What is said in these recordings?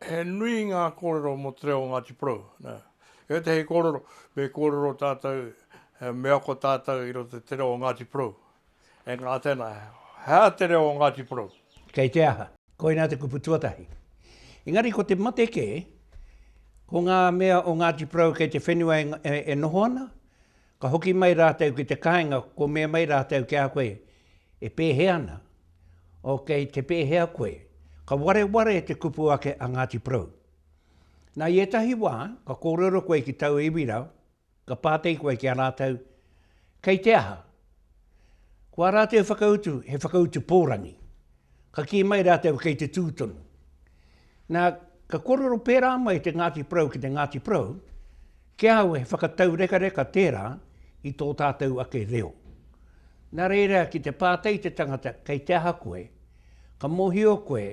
He nui ngā kōrero mō te reo o Ngāti Porou. He tēhi kōrero, me kōrero tātou, he mea ko tātou i roto i te reo o Ngāti Porou. Engā tēnā, he aha te reo o Ngāti Porou? Kei te aha? Koinā te kupu tuatahi. Engari ko te mate kē, ko ngā mea o Ngāti Porou kei te whenua e noho ana, Ka hoki mai rātou ki te kāinga, ko mea mai rātou ki a koe, E pēhea ana? O kei te pēhea koe? Ka wareware te kupu ake a Ngāti Porou. Nā, i ētahi wā, ka kōrero koe ki tau iwi rā, ka pātei koe ki a rātou, Kei te aha? Ko ā rātou whakautu, he whakautu pōrangi. Ka kī mai rātou kei te tū tonu. Nā, ka kōrero pērā mai te Ngāti Porou ki te Ngāti Porou, ki a au he whakataurekareka tērā i tō tātou ake reo. Nā reira ki te pātai te tangata kei te aha koe, Ka mōhio koe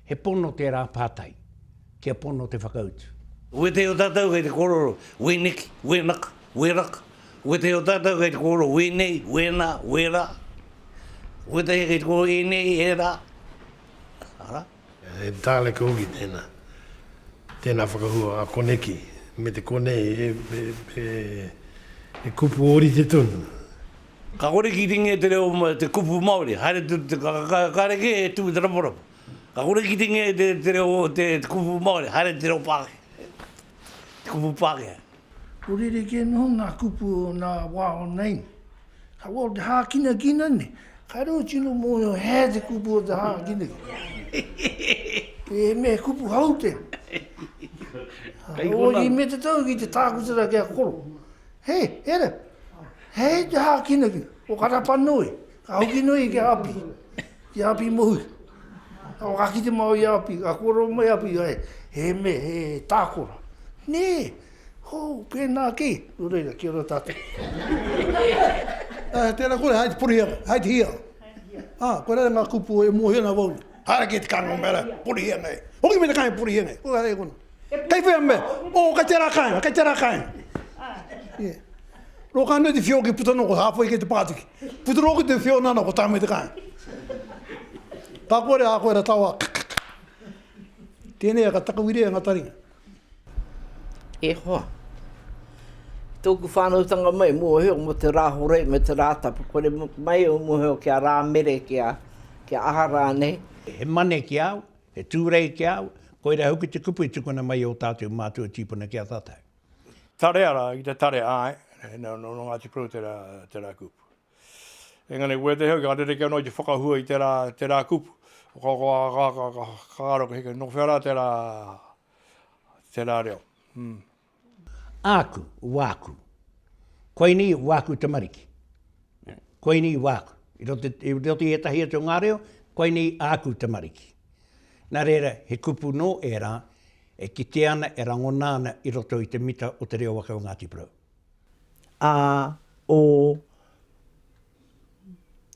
he pono tērā pātai, kia pono te whakautu. Wētehi o tātou kei te kōrero wēneki, wēnaka, wēraka. Wētehi o tātou kei te kōrero wēnei, wēnā, wērā. Wētehi kei te kōrero ēnei, ērā, arā. He tāleke hoki tēnā. Tēnā whakahua a koneki me te konei he kupu ōrite tonu. Ka kore ki ringia te reo, te kupu Māori, haere tonu te kakarehe e tū i te raparapu. Ka kore ki ringia te reo, te kupu Māori, haere te reo Pākehā, te kupu Pākehā. Ko rerekē noho ngā kupu o nā wā o nei. Ka wā o te hākinakina nei, ka reo tino mōhio hē te kupu o te hākinakina. E me he kupu hou tēnei. Ka rori me te tau ki te tākutara kia koro. He, here! Hei te hākinakina o ka rapa nui, ka hoki nui i ke api, te api mohi. Awa ka kite mau i a api, ka kōrero mai api, he, he me, he tākora. Nē! Hou, pēnā kē! Nō reira, kia ora tātou. Ā, tēnā kore, hai te porihia, hai te hia. Ā, kua rere ngā kupu e mōhio ana wau nei. Haere kē te kāinga o Mera, porihia nei. Hoki me te kāinga porihia nei. Kua rere e kona. Kei whea me? Oh, kei te rā kāinga, kei te rā kāinga. Yeah. Rō kāinga te whio ki puta nō, ko hāpoi kei te pātiki. Puta nō ki te whio nāna, ko tāmei te kāinga. Ka kore a koe ra tawa. Tēnei a ka takawire e ngā taringa. E hoa. Tōku whānautanga mai, mua heo mo te rāhorei me te rātapu. Kore mai o mua heo kia rāmere, kia, kia aha rānei. He mane ki au, He tūrei ki a au, koirā hoki te kupu i tukuna mai i ō tātou mātua tīpuna ki a tātou. Tarea rā, ki te tarea, āe, nō Ngāti Porou te rā, te rā kupu. Engari koia te hau, kia rerekē anō i te whakahua i te rā, te rā kupu, ka, ka, ka, ka, ka, ka ngaro, nō whea rā te rā, te rā reo. Āku, wāku. Koinei wāku tamariki. Koinei wāku. I roto, i roto i ētahi atu o ngā reo, koinei āku tamariki. Nā reira, he kupu nō ērā e kitea ana, e rangona ana i roto i te mita o te reo waka o Ngāti Porou. A, ō,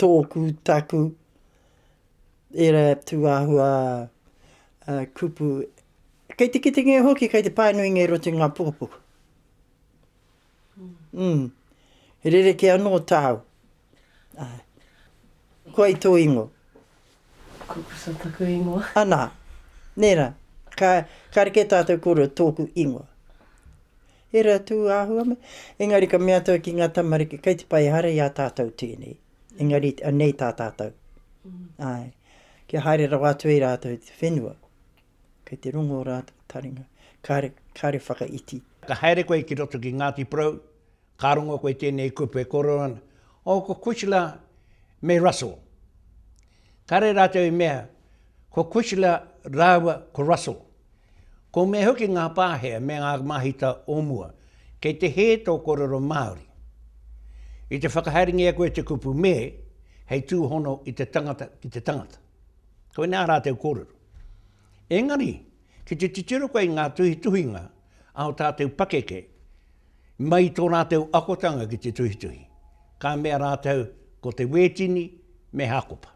tōku, taku. Ērā tū āhua kupu, kei te kitingia hoki kei te pānui ngei roto i ngā pukapuka. He rerekē anō tāu. Koa i tō ingoa? Ko Pusa taku ingoa. Anā, nērā, ka rerekē tātou kōrero tōku ingoa. Ērā tū āhua mea, engari ka mea tāu ki ngā tamariki kei te pai ehara i a tātou tēnei. Engari anei tā tātou. Āe, kia haere rawa atu ai rātou i te whenua, kei te rongo ō rātou taringa, kāre, kāre whakaiti. Ka haere koe ki roto ki Ngāti Porou, ka rongo koe i tēnei kupu e kōrero ana, oh, ko Chrysler me Russell. Kāre rātou i mea, ko Chrysler rāua ko Russell. Ko me hoki ngā pāhea me ngā mahita o mua, kei te hē tō kōrero Māori. I te whakahaerengia koe te kupu me, hei tūhono i te tangata ki te tangata. Koinā ā rātou kōrero. Engari, ki te titiro koe i ngā tuhituhinga a o tātou pakeke, mai i tō rātou akotanga ki te tuhituhi, ka mea rātou ko te wētini me Hākopa.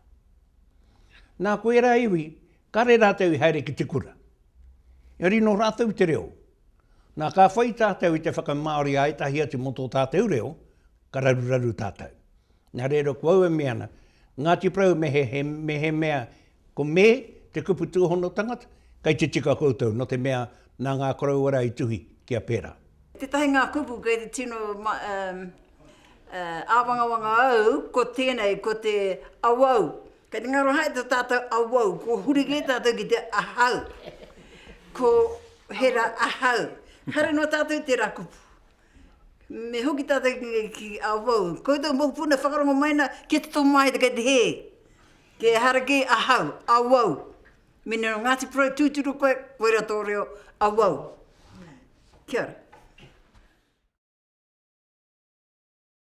Nā koe rā iwi, Kāre rātou i haere ki te kura. Engari nō rātou te reo. Nā, ka whai tātou i te whakamāori a ētahi atu mō tō tātou reo, ka raruraru tātou. Nā reira ko au e mea ana, Ngāti Porou mehe, mehemea ko me te kupu tūhono tangata, kei te tika koutou, nō te mea nā ngā koroua-rā i tuhi kia pērā. Tētahi ngā kupu kei te tino āwangawanga au, ko tēnei, ko te awau. Kei te ngaro haere to tatou awau, kua huri kē tatou ki te ahau, ko Hera ahau. Haere noa tatou i tera kupu. Me hoki tatou ki awau, koutou mokopuna whakarongo mai na kia te tomoaita kei te hē. Kei ahara kē ahau, awau. Mena no Ngati Porou tuturu koe, koira to reo, awau. Kia ora.